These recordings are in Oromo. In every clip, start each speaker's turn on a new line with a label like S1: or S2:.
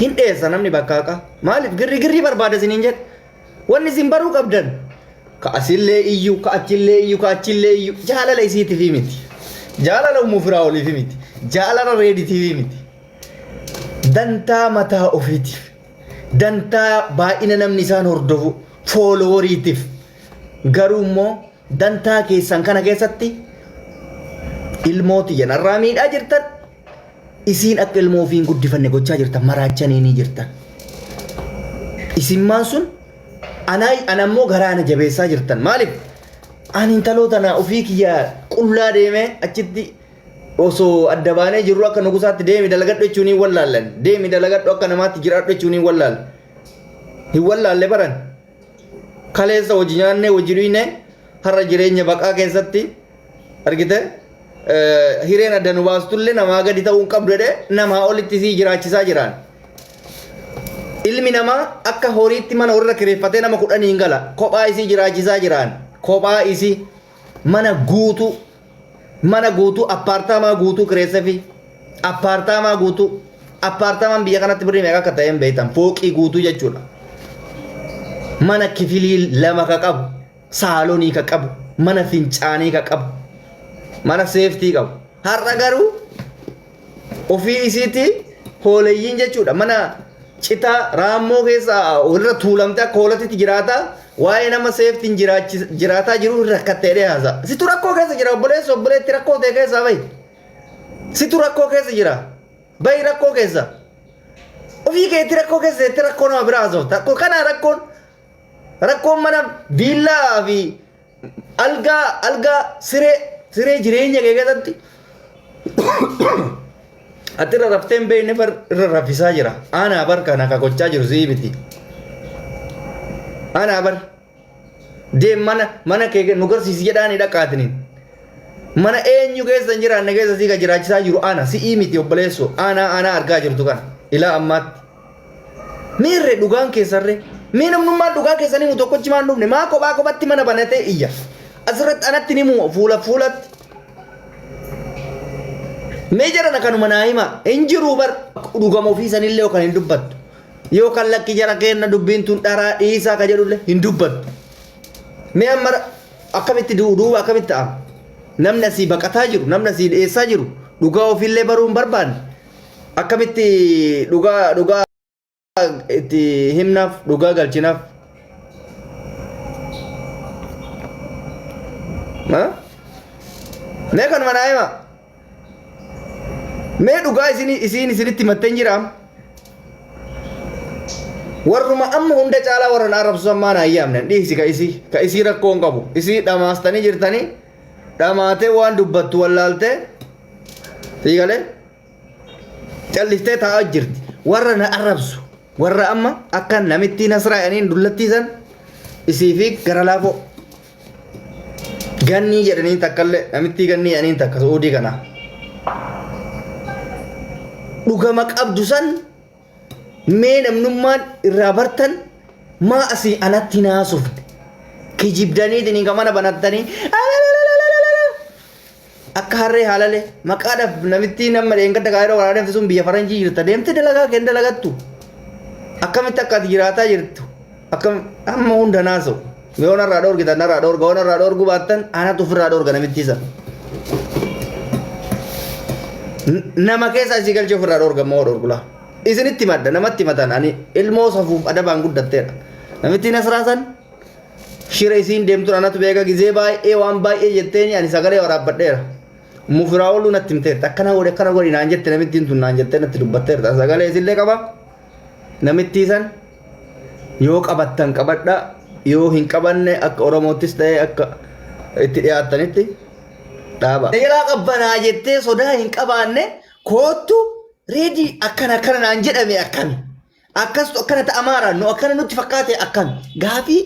S1: Hin dheessa namni bakka haqaa. Maaliif girrigirrii barbaada isiniin jedhe. Wanni isin baruu qabdan. Ka asillee iyyuu, ka achillee iyyuu, ka achillee iyyuu. Jaalala isiitiif miti. Jaalala ummuu firaa oliif miti. Jaalala reeditiif miti. Dantaa mataa ofiitiif. Dantaa baay'ina namni isaan hordofu fooloworiitiif. Garuu immoo dantaa keessan kana keessatti ilmoo tiyya narraa miidhaa jirtan isiin akka ilmoo ofii hin guddifanne gochaa jirtan maraachanii ni jirtan. Isimmaan sun anaa an ammoo garaa ana jabeessaa jirtan maaliif ani intaloo tana ofii kiyya qullaa deemee achitti osoo adda baanee jirru akka nugusaatti deemi dalagadhu jechuun hin wallaallan deemi dalagadhu akka namaatti jiraadhu jechuun hin wallaalle hin wallaalle baran kaleessa hojii nyaannee hojii dhuyne har'a jireenya baqaa keessatti argite eh, hireen adda nu baastullee namaa gadi ta'uu hin qabdu jedhee namaa olitti sii jiraachisaa jiraan. Ilmi namaa akka horiitti mana horii irra kireeffatee nama kudhaniin gala kophaa isii jiraachisaa jiraan kophaa isii mana guutuu mana guutuu appaartaamaa guutuu kireessefi appaartaamaa guutuu appaartaamaan biyya kanatti birrii meeqa akka ta'een beektan fooqii guutuu jechuudha. Mana kifilii lama ka qabu saalonii ka qabu mana fincaanii ka qabu mana seeftii qabu har'a garuu ofii isiitii hooleyyiin jechuudha mana citaa raammoo keessa irra tuulamte akka hoolatitti jiraata waa'ee nama seeftiin jiraachi- jiraataa jiru irra rakkattee dhiyaasa situ rakkoo keessa jira obboleessa obboleetti rakkoo ta'e keessaa bahi situ rakkoo keessa jira bahi rakkoo keessa ofii keetti rakkoo keessa jettee rakkoo nama biraa haasofta Kun kana rakkoon rakkoon mana viillaa fi Algaa, algaa, siree, siree jireenya kee keessatti ati irra raftee hin beekne far irra raffisaa jira. Aanaa bar kana ka gochaa jiru si'i miti. Aanaa bar deem mana mana kee nu garsiisi jedhaani dhaqaatiniin. Mana eenyu keessa hin jiraanne keessa sii ka jiraachisaa jiru ana si'i miti obboleessu aanaa aanaa argaa jirtu kana ilaa ammaatti. Meerre dhugaan keessanre? Mee namnummaan dhugaa keessan himu tokkochi maan dhufne maa kophaa kophatti mana banatee iyya. Asirratti anatti ni himu fuula fuulatti. Mee jedhan kanuma naa hima hin jiru bar dhugama ofii sanillee yookaan hin dubbattu. Yookaan lakki jara keenna dubbiin tun dharaa dhiisaa ka jedhullee hin dubbattu. Mee amma akkamitti du- duuba akkamitti ta'ama? Namni asii baqataa jiru namni asii dhiyeessaa jiru dhugaa ofiillee baruu hin barbaanne akkamitti dhugaa dhugaa itti himnaaf dhugaa galchinaaf Ha? mee kanuma naa hima mee dhugaa isin isiin isinitti himattee hin jiraam warruma amma hunda caalaa warra na arrabsu ammaa na ayyaamne dhiisi ka isii ka isii rakkoo hin qabu isii dhamaastanii jirtanii dhamaatee waan dubbattu wallaaltee Siigale callistee taa'aa jirti. Warra na arrabsu. Warra amma akka namittii nasraa'aniin dullattiisan isii fi gara laafoo. Gannii jedhaniin takkallee namittii gannii jedhaniin takka su'uudii kana. Dhugama qabdu san mee namnummaan irraa bartan maa asii anatti naasufne. Kijibdaniitiin hin mana banattanii. Akka harree haalale maqaadhaaf namittiin amma dheengadda gaa'ela waraana deemte sun biyya faranjii jirta deemte dalagaa kee dalagattu akkamitti akka ati jiraataa jirtu akkam amma hunda naasa'u yoo narraa dhoorgitan narraa dhoorga yoo narraa dhoorguu baattan anatu ofirraa dhoorga namittii sana. N- Nama keessa isii galchee ofirraa dhoorga moo dhoorgulaa isinitti madda namatti matan ani ilmoo safuuf adabaan guddatteedha namittiin asirraa san Shira isiin deemtun anatu beeka gizee baay'ee waan baay'ee jetteeni ani sagalee waraabbadheera. Mufiraawoluu natti himteerti akkana godhi akkana godhi naan jette namittiin tun naan jettee natti dubbatteerta Ani sagalee isillee qaba namittii san yoo qabattan qabadha yoo hin qabanne akka Oromoottis ta'ee akka itti dhiyaattanitti dhaaba. Seeraa qabbanaa jettee sodaa hin qabaanne koottu reedii akkana akkana naan jedhame akkami Akkastu akkana ta'amaara nu akkana nutti fakkaate akkam gaafii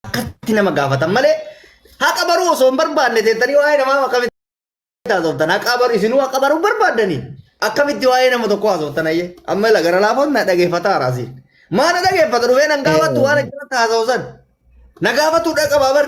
S1: akkatti nama gaafatan malee haqa baruu osoo hin barbaanne teettanii waa'ee namaa akkamitti haasoftan haqa baruu isinuu haqa baruu barbaaddanii akkamitti waa'ee nama tokko haasoftan ayyee amma ila gara laafoon na dhageeffata araasiin maa na dhageeffata dhufee nan gaafattu waan achirratti haasawsan na gaafattu dhaqabaa bar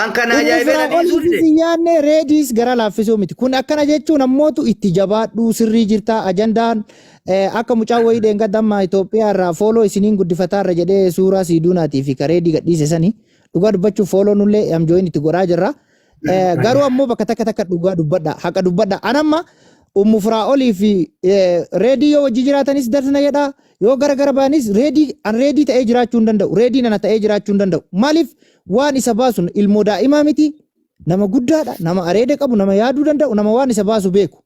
S1: An kan Inni ajaa'ibee na firaa'ol dhiisuu dide.
S2: hin
S1: nyaanne reediis
S2: gara laaffisuu miti. Kun akkana jechuun ammootu itti jabaadhuu sirrii jirtaa ajandaan eh, akka mucaa wayii dheenga damma Itoophiyaa irraa fooloo isiniin guddifataa irra jedhee suuraa siiduunaatii fi kareedii gadhiise sani dhugaa dubbachuuf fooloo nullee amjooyin itti godhaa jirra. Eh, Garuu ammoo bakka takka takka dhugaa dubbadha haqa dubbadha. An amma ummu firaa'olii fi eh, reedii yoo wajji jiraatanis darsna jedha yoo gara gara baanis reedii an reedii ta'ee jiraachuu hin danda'u reediin ana ta'ee jiraachuu hin danda'u maaliif Waan isa baasu ilmoo daa'imaa miti, nama guddaadha, nama areeda qabu, nama yaaduu danda'u, nama waan isa baasu beeku.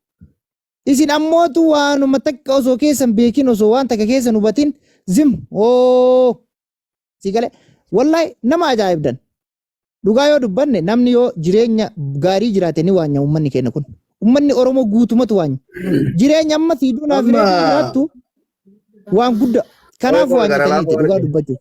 S2: Isin ammootu waanuma takka osoo keessan beekin osoo waan takka keessan hubatin zim oo si galee wallahi nama ajaa'ibdan. Dhugaa yoo dubbanne namni yoo jireenya gaarii jiraate ni waanya uummanni keenya kun. Uummanni Oromoo guutumatu waanya. Jireenya amma sii duunaa fi Amma- reefu jiraattu waan guddaa. Kanaaf Oromoo gara waanyatanii laafaa dhugaa waliin. dubbachuuf.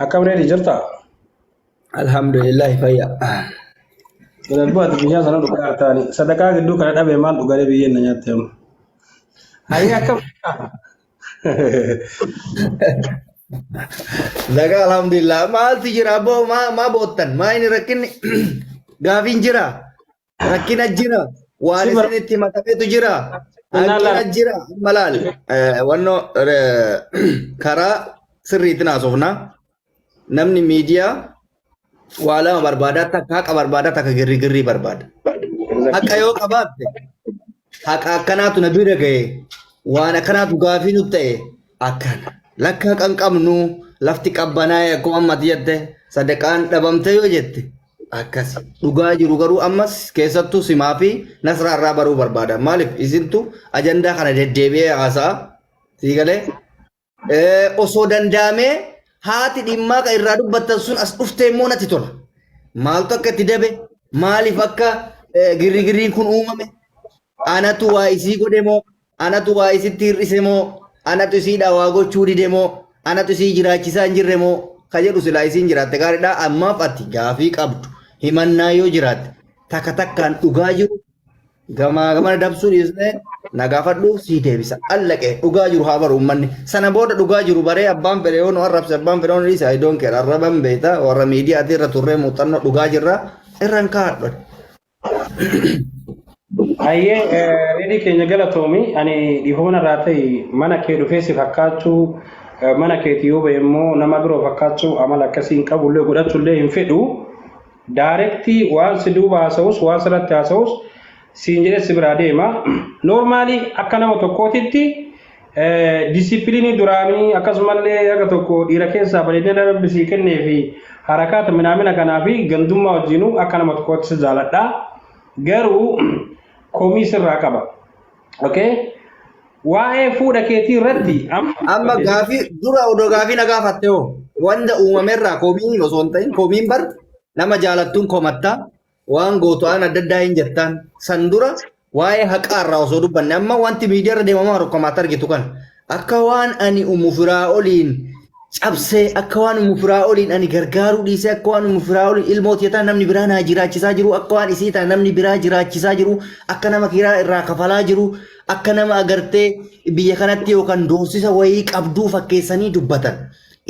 S3: Akkam reedi jirta?
S1: Alhamdulillah fayya.
S3: Darbu ati biyyaa sana dhugaa artaani. Sadaqaa gidduu kana dhabe maal dhugalee biyyeen na nyaatte amma. Hayya akkam?
S1: Zaga alhamdulillah maaltu jira boo maa maa boottan maa inni rakkinni gaafiin jira Rakkina jira. Waan Si bar- isin itti matametu jira. Innaa Hanqina laa- jira. Amma laal. Eh, Wanno eh, karaa sirriitiin haasofna. Namni miidiyaa waa lama barbaada. Takka haqa barbaada, takka girrigirrii barbaada. Haqa yoo qabaatte haqa akkanaatu na bira ga'e waan akkanaatu gaafii nu ta'e akkana. Lakka haqa hin qabnu lafti qabbanaa'e akkuma ammati jette sadaqaan dhabamte yoo jette akkasi dhugaa jiru garuu ammas keessattuu simaa fi nasraa irraa baruu barbaada maaliif isintu ajandaa kana deddeebi'ee haasa'a sii galee Eh, osoo danda'amee haati dhimmaa kan irraa dubbattan sun as dhuftee immoo natti tola maaltu akka itti dabe maaliif akka eh, girrigirriin kun uumame anatu waa isii godhe moo anatu waa isitti hir'ise moo anatu isiidhaa waa gochuu dide moo anatu isii jiraachisaa hin jirre moo ka jedhu silaa isiin jiraatte gaariidha ammaaf ati gaafii qabdu himannaa yoo jiraatte takka takkaan dhugaa jiru gamaa gamana dabsuu dhiisnee na gaafadhu sii deebisa allaqe dhugaa jiru haa baru uummanni sana booda dhugaa jiru baree abbaan fedhe yoo nu arrabse abbaan fedhe yoo nu dhiise I don't care arraban beekta warra miidiyaa irra turree muuxannoo dhugaa jirra irraan kaa'adhu.
S3: Hayyee eh, reedii keenya galatoomi ani dhiifama irraa ta'e mana kee dhufee si fakkaachuu eh, mana keeti yoo ba'e immoo nama biroo fakkaachuu amala akkasii hin qabu illee godhachuu illee hin fedhu daarektii waan si duuba haasa'us waan sirratti haasa'us siin jedhee si biraa deema noormaalii akka nama tokkootitti Disipiliinii duraanii akkasumallee haga tokko dhiira keessaa bareedina rabbi sii kennee fi harakaata minaamina kanaa fi gandummaa wajjinuu akka nama tokkootti si jaaladha. Garuu komii sirraa qaba. Okay? Waa'ee fuudha keetii irratti Amma gaafii
S1: dura odoo gaafii na gaafatte hoo wanda uumamerraa komiin osoo hin ta'in komiin bar nama jaalattuun komatta waan gootu waan adda addaa hin jirtaan san dura waa'ee haqaa irraa osoo dubbanne amma wanti miidiyaa irra deemamaa jiru akkuma ati argitu kan akka waan ani umu firaa oliin cabsee akka waan umu firaa oliin ani gargaaruu dhiisee akka waan umu firaa oliin ilmoo tiyataa namni biraa naa jiraachisaa jiru akka waan isii taa namni biraa jiraachisaa jiru akka nama kiraa irraa kafalaa jiru akka nama agartee biyya kanatti yookaan doorsisa wayii qabduu fakkeessanii dubbatan.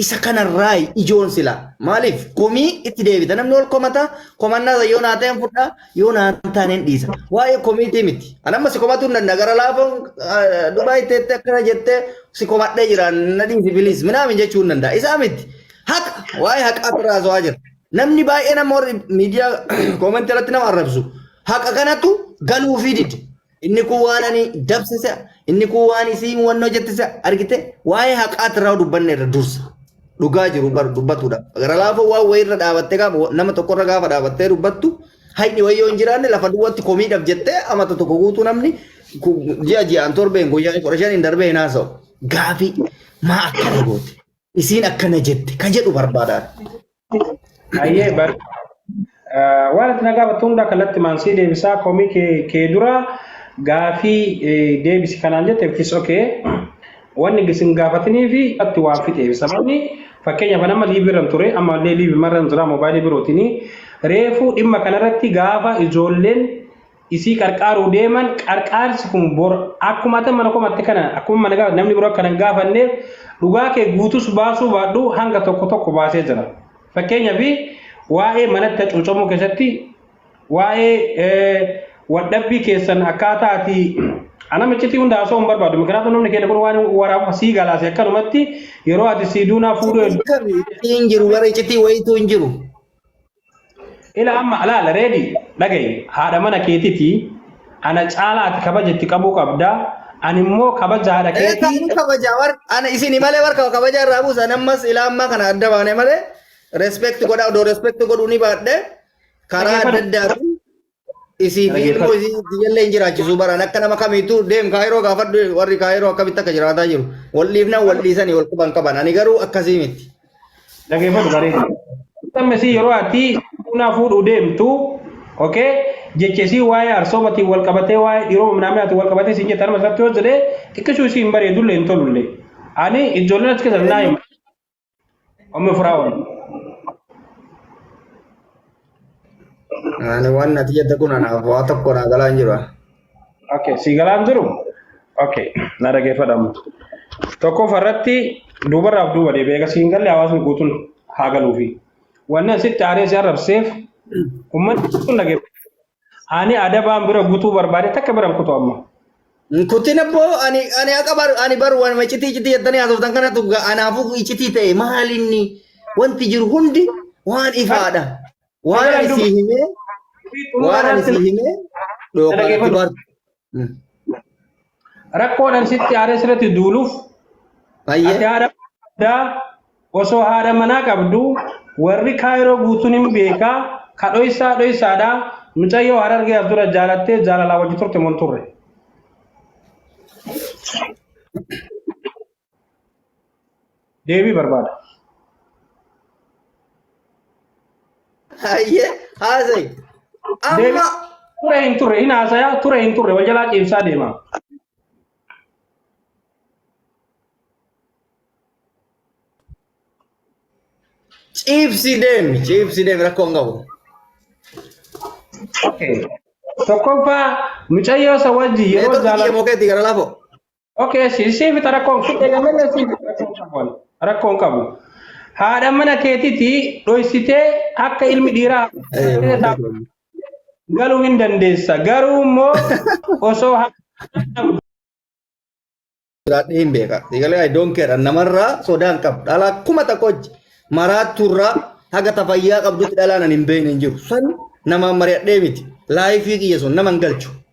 S1: Isa kanarraa ijoon sila maaliif komii itti deebita namni ol komata komannaa isa yoo naa ta'een fudhaa yoo naa hin taaneen dhiisa waa'ee komiitii miti an amma si komatuu hin danda'a gara laafoon duraa itti jettee akkana jettee si komadhee jira na dhiisi biliis minaamin jechuu hin danda'a isaa miti haqa waa'ee haqaa irraa haasawaa jira namni baay'ee nama warri miidiyaa koomentii irratti nama arrabsu haqa kanatu galuufii dide Inni kun waan ani dabse se'a. Inni kun waan isiin wannoo jette se'a. Argite waa'ee haqaati irraa dubbanne irra dursa. Dhugaa jiru bar dubbatudha. Gara laafoo waan wayii irra dhaabattee gaafa wa- nama tokko irra gaafa dhaabattee dubbattu hayni wayii yoo hin jiraanne lafa duwwaatti komiidhaaf jettee amata tokko guutuu namni ku- ji'a ji'aan torbeen guyyaa kudha shaniin darbee hin haasa'u. Gaafii maa akkana goote? Isiin akkana jette ka jedhu barbaadaan.
S3: Ayyee bar waan itti nagaa battu hundaa kallattii maansii deebisaa komii kee kee dura gaafii eh, deebisi kanaan jette which is okay. Wanni gisin gaafatinii fi atti waan fixeef sababni fakkeenyaaf nama liibirran ture amma illee liibimarran jira moobaayilii birootinii reefuu dhimma kanarratti gaafa ijoolleen isii qarqaaruu deeman qarqaarsi kun bor akkuma ati mana komatte kana akkuma mana gaafa namni biroo akkanan gaafanneef dhugaa kee guutus baasuu baadhu hanga tokko tokko baasee jira fakkeenyaaf waa'ee manatti hacuucamuu keessatti waa'ee wadhabbii keessan akkaataa ati ana miccitii hunda haasoo hin barbaadu mikiraatu namni keenya kun waan waraaba sii galaase akkanumatti yeroo ati sii duunaa fuudhuu Kun kan ittiin jiru
S1: bara iccitii wayiitu hin jiru.
S3: Ila amma alaala reedi dhagayi haadha mana keetiti ana caalaa ati kabaja itti qabuu qabda ani immoo kabaja haadha Ee keetii kanin kabaja war ana
S1: isini malee war kaba kabaja irraa buusa nammas ilaa ammaa kana adda baane malee respect godha odoo respect godhuu ni baadhe karaa adda dhaggeeffadhu addaatiin Isii fi ilmoo isii iyyallee hin jiraachisuu baraan akka nama kamiitu deem kaayiroo gaafadhu warri kaayiroo akkamitti akka jiraataa jiru. Wal dhiifnaan wal dhiisanii wal quban qaban. Ani garuu akkasii miti. Dhageeffatu
S3: bareedu. Amma isii yeroo ati bunaa fuudhuu deemtu okay jecha isii waa'ee arsoomatiin wal qabatee waa'ee dhiiroo minaaminaa ati wal qabatee siin jette harma irratti yoo jedhee xiqqishuu isii hin bareedullee hin tolullee. Ani ijoolleen achi keessan naa hima. Ummu Firaa'ol.
S1: Ani waan nati jette kun anaaf waa tokko naa galaa hin jiru. Okay,
S3: si galaan jiru? Okay, na dhaggeeffadhamu. Tokkoffaa irratti duubarraaf duuba deebi'ee egaa siin galle hawaasni guutuun haa galuufi. Wanni asitti aaree si arrabseef uummanni guutuun dhaggeeffadha. Ani adabaan bira gutuu barbaade takka bira hin kutu amma. Kutin
S1: abbo ani ani akka bar ani bar waan macitii citii jettanii haasoftan kanatu ga- anaafuu icitii ta'e maal inni wanti jiru hundi waan ifaadha. Waan ani sii himee waan ani sii himee dhooqaan ati bartu.
S3: Rakkoodhaan sitti aaree sirratti duuluuf ati Baay'ee haadha qabdaa osoo haadha manaa qabdu warri kaayiroo guutuun hin beekaa ka dhoysaa dhoysaadha mucayyoo harargee as dura jaalattee jaalalaa wajji turte mon turre. Deebii barbaada. Hayyee
S1: haasa'i. Deebii Amma ture hin
S3: turre hin haasaya ture hin turre wal jalaa ciimsaa deema.
S1: ciibsi deemi ciibsi deemi rakkoo hin qabu. Okay.
S3: Tokkoffaa mucayyoo isa wajjin yeroo Neetoo jaalatu. biyya mookeetti gara lafoo.
S1: Okay, si
S3: si fita rakkoon si eegamanna si fita rakkoon qabu. ani. Rakkoon qabu. Haadha mana keetiti dhoysitee akka ilmi dhiiraa Eh, mana maal taa'u jedhamu? galuu hin dandeessa. Garuu immoo osoo haadha
S1: Jiraadhee hin beeka. Egalee I don't care. Namarraa sodaa hin qabu. Dhalaa kuma tokko hojji. Maraattuurraa haga tafayyaa qabdutti dhalaan ani hin beekne hin jiru. San namaan mari'adhee miti. Laayifii kiyya sun nama hin galchu.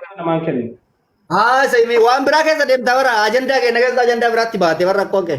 S3: Kana namaan kennu.
S1: Haasa himee waan biraa keessa deemta bara ajandaa keenya keessa ajandaa biraatti baate bara rakkoon kee.